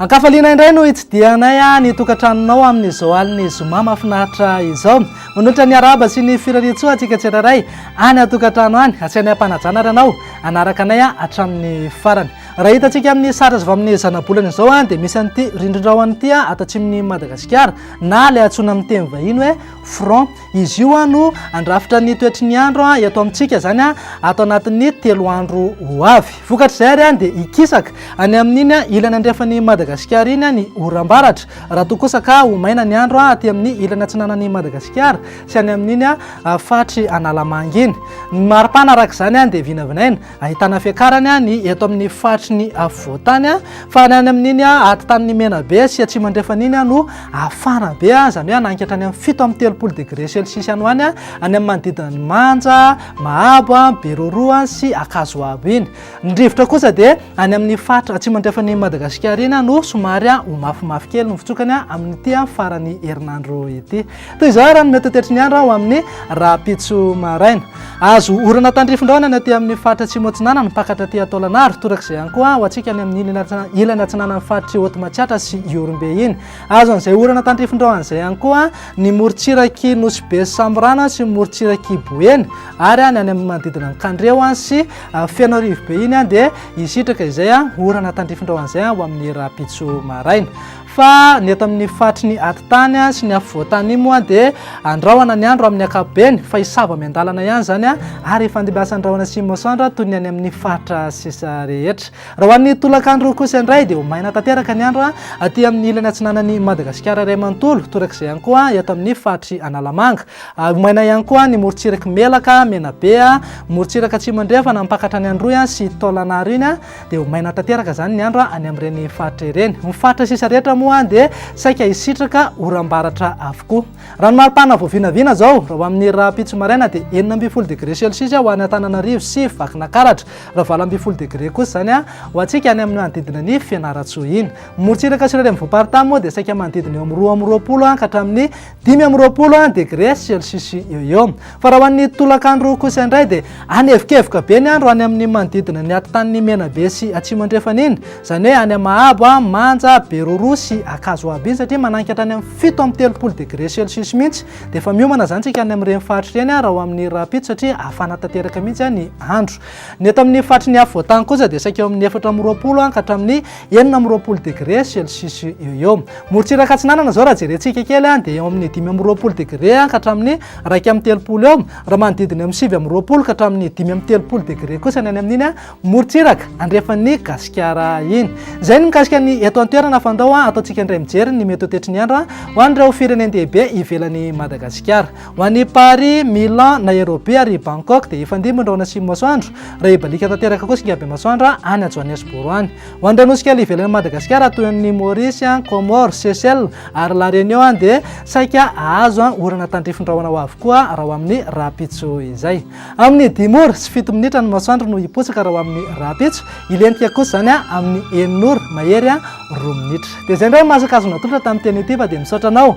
Ankafaliana indray no hitsidihanay ah, ny tokantranonao amin'izao alin'ny zoma mafinaritra izao. Manotra ny araba sy ny firariantsoa antsika tsirairay any atokantrano any. Asianay am-panajana ary anao anaraka anay ah, hatramin'ny farany. Raha hitantsika amin'ny sary azo amin'ny zanabolana izao ah, dia misy an'ity rindrindrao an'ity atatsimon'ny Madagasikara na ilay antsoina amin'ny teny vahiny hoe front izy io no andrafitra ny toetry ny andro eto amintsika zany a ato anatin'ny telo andro ho avy vokatr' izay ary any dia hikisaka any amin'iny a ilany andrefan'ny madagasikara iny any orambaratra raha toa kosa ka ho maina ny andro a aty amin'ny ilany atsinanan'ny madagasikara sy any amin'iny a faritry analamanga iny ny maripana araka izany any dia vinavinaina Ahitana fiakarany ny eto amin'ny faritry ny afovoantany fa ny any amin'iny atitany ny Menabe sy atsimo andrefana iny no afara be izany hoe hanangy hatrany amin'ny fito amby telopolo degré celsius any ho any any amin'ny manodidina ny Manja, Mahabo, Beroroha sy Ankazoabo iny. Ny rivotra kosa dia any amin'ny faritra atsimo andrefan'i Madagasikara iny no somary ho mafimafy kely ny fitsokany amin'ity faran'ny herinandro ity. Toy izao ary no mety tetry ny andro ho amin'ny rahampitso maraina. Azo orana tandrifin-drahona ny aty amin'ny faritra Atsimo-Atsinanana, mipakatra aty Taolagnaro, torak'izay ihany koa ho antsika any amin'ny ilany atsinanan'ny faritr'i Haute Matsiatra sy Ihorombe iny. Azo an'izay orana tandrifin-drahona izay ihany koa ny morontsirak'i Nosy-Be sy Samborana sy ny morontsirak'i Boeny ary ny any amin'ny manodidina an'i Kandreho sy Fenoarivobe iny dia hisitraka izay orana tandrifin-drahona izay ho amin'ny rahampitso maraina. Fa ny eto amin'ny faritry ny atitany sy ny afovoantany iny moa dia andrahona ny andro amin'ny ankapobeny fa hisava miandalana ihany izany ary hifandimbiasa ny rahona sy masoandro toy ny any amin'ny faritra sisa rehetra. Raha ho an'ny tolakandro kosa indray dia ho maina tanteraka ny andro aty amin'ny ilany atsinanan'i Madagasikara iray manontolo torak'izay ihany koa eto amin'ny faritry Analamanga. Ho maina ihany koa ny morontsirak'i Melaka, Menabe, morontsiraka atsimo andrefana mampakatra any Androy sy Taolagnaro iny. dia ho maina tanteraka izany ny andro any amin'ireny faritra ireny. Ny faritra sisa rehetra moa dia saika hisitraka oram-baratra avokoa. Raha ny maripana vao vinavina izao, raha ho amin'ny rahampitso maraina dia enina ambin'ny folo degre celsius ho any Antananarivo sy Vakinakaratra, raha valo ambin'ny folo degre kosa izany ho antsika any amin'ny manodidina ny Fianarantsoa iny. Ny morontsiraka sy ireo renivohi-paritany moa dia saika manodidina eo amin'ny roa amby roapolo ka hatramin'ny Dimy amby roapolo any dia gréce celsius eo eo. Fa raha ho an'ny tolakandro kosa indray dia any evikevoka be ny andro any amin'ny manodidina ny atotanin'i Menabe sy Atsimo Andrefana iny, izany hoe any Mahabo, Manja, Beroroha sy Ankazoabo iny satria manangy hatrany amin'ny fito amby telopolo degré celsius mihitsy. Dia efa miomana izany isika any amin'ireny faritra ireny raha ho amin'ny rahampitso satria hafana tanteraka mihitsy ny andro. Ny eto amin'ny faritry ny afovoantany kosa dia saika eo amin'ny efatra amby roapolo ka hatramin'ny enina amby roapolo degré celsius eo eo morontsiraka atsinanana zao raha jerentsika kely a dia eo amin'ny dimy amby roapolo degré ka hatramin'ny iraika amin'ny telopolo eo raha manodidina amin'ny sivy amby roapolo ka hatramin'ny dimy amin'ny telopolo degré kosa ny any amin'iny a morontsiraka andrefan'ny gasikara iny izay ny mikasika ny eto an-toerana fandao a ataontsika indray mijery ny mety ho toetry ny andro a ho an'ireo firenen-dehibe ivelan'i madagasikara Ho an'i Paris, Milan, Nairobi ary Bangkok dia efa ndimby ny rahona atsimon'ny masoandro, raha hibaliaka tanteraka kosa ny habe masoandra any ajoan'ny asoboro any. Ho an'ireo nosy kely ivelan'i Madagasikara toy ny Maurice, Comores, Seychelles ary La Réunion dia saika hahazo orana tandrifin-drahona ho avy koa raha ho amin'ny rahampitso izay. Amin'ny dimy ora sy fito minitra ny masoandro no hiposaka raha ho amin'ny rahampitso, hilentika kosa izany amin'ny enina ora mahery roa minitra. Dia izay indray ny maha-sakazon'ny natolotra tamin'ny teny ity fa dia misaotra anao